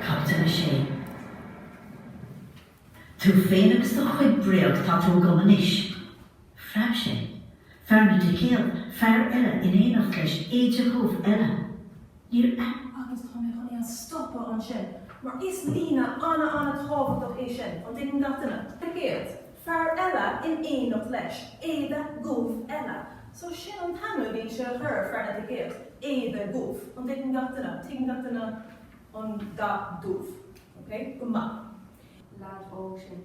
Caibidil 6. Tú féin agus do chuid bréag, tá tú agam anois. Phreab sé. Fear na dticéad. Fear eile in éineacht leis. Éide dhubh eile. Níor aithin. Agus tá mé chun é a stopadh ansin, mar is líne an-an-tábhachtach é sin, an dtuigeann gach duine? Ticéad. Fear eile in éineacht leis. Éide dhubh eile. So sin an t-ainm a bhí sé a chur ar fhear na dticéad. Éide dhubh. An dtuigeann gach duine? Tuigeann gach duine an dath dubh. Okay? Go maith. Leaid óg sin.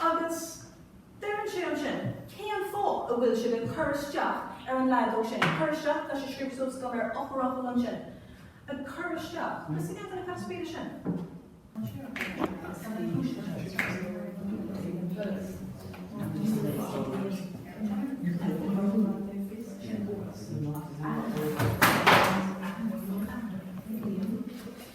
Agus deireann sé ansin, cén fáth a bhfuil sibh ag cur isteach ar an leaid óg sin, cur isteach, tá sé scríofa suas agam ar eochairfhocal ansin, ag cur isteach, cad is ciall leis an spéis sin? An sé an chéad rud agus cad é an cúis leis an spéis sin?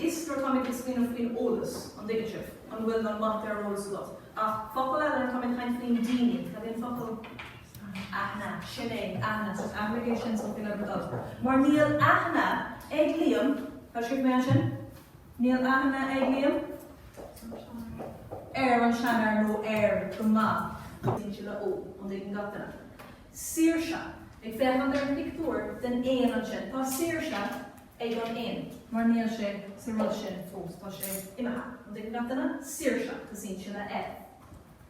Is nuair atáimid ag smaoineamh faoin eolas, an dtuigeann sibh, an bhfuil na maith ar eolas agat. Ach focal eile nuair atá mé ag caint faoin daoine, cad é an focal? Aithne, sin é, aithne, so aithne é sin so faoin oibre dod. Mar níl aithne ag Liam, tá sibh mé ansin? Níl aithne ag Liam ar an seanfhear nó air go maith. Tosaíonn sé le 'Ó, an dtuigeann gach duine? Saoirse! Ag féachaint ar an pictiúr den éan ansin. Tá saoirse ag an éan mar níl sé sa rud sin fós. Tá sé imithe. An dtuigeann gach duine? Saoirse! Tosaíonn sé le F.